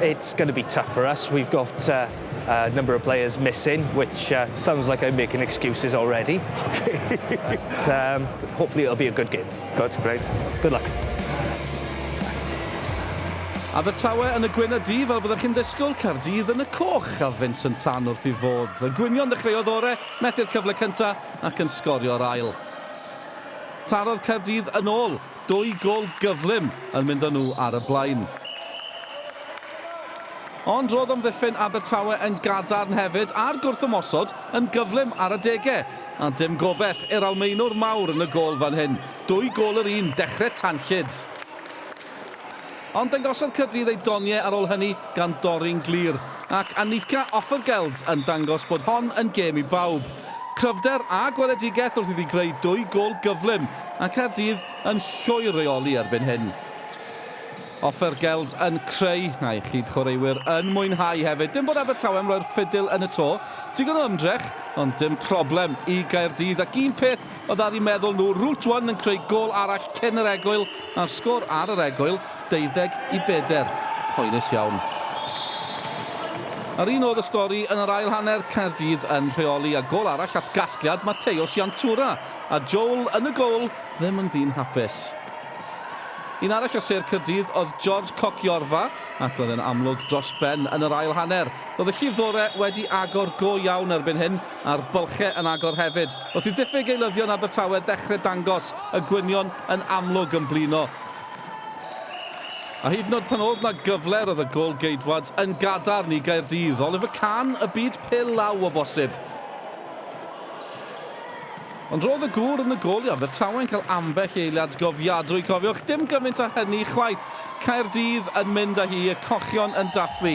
It's going to be tough for us, we've got a number of players missing, which sounds like I'm making excuses already. But hopefully it'll be a good game. Good, great. Good luck. Abertawe yn y gwyn a du, fel byddech chi'n ddisgwyl, Caerdydd yn y coch, a Vincent Tan wrth ei fodd. Y gwynion ddechreuodd ore, methu'r cyfle cyntaf ac yn sgorio'r ail. Tarodd Caerdydd yn ôl. Dwy gôl gyflym yn mynd â nhw ar y blaen. Ond roedd amddiffyn Abertawe yn gadarn hefyd a'r gwrthymosod yn gyflym ar adegau. A dim gobeith i'r Almaenwr mawr yn y gôl fan hyn. Dwy gôl yr un, dechrau tanllyd. Ond dangosodd Caerdydd eu doniau ar ôl hynny gan dorri'n glir, ac Annika Offergeld yn dangos bod hon yn gêm i bawb. Cryfder a gweledigaeth wrth iddi greu dwy gôl gyflym, a Caerdydd yn llwyr reoli erbyn hyn. Offergeld yn creu, a'i chyd-chwaraewyr yn mwynhau hefyd. Dim bod Abertawe'n roi'r ffidil yn y to. Digon o ymdrech, ond dim problem i Gaerdydd, ac un peth Oedd ar eu meddwl nhw, Route One yn creu gôl arall cyn yr egwyl a'r sgôr ar yr egwyl, 12 i bedair. Poenus iawn. A'r un oedd y stori yn yr ail hanner, Caerdydd yn rheoli a gôl arall at gasgliad Mateos Jantura, a Joel yn y goal ddim yn ddyn hapus. Un arall o sêr Caerdydd oedd George Cokiorfa ac roedd e'n amlwg dros ben yn yr ail hanner. Roedd y llifddore wedi agor go iawn erbyn hyn, a'r bylchau yn agor hefyd, wrth i ddiffyg eilyddion Abertawe ddechrau dangos y gwynion yn amlwg yn blino. A hyd yn oed pan oedd 'na gyfle roedd y gôl geidwad yn gadarn i Gaerdydd. Oliver Kahn, y byd pil law o bosib. Ond roedd y gŵr yn y gôl i Abertawe yn cael ambell eiliad gofiadwy, cofiwch, dim gymaint â hynny chwaith. Caerdydd yn mynd â hi, y cochion yn dathlu.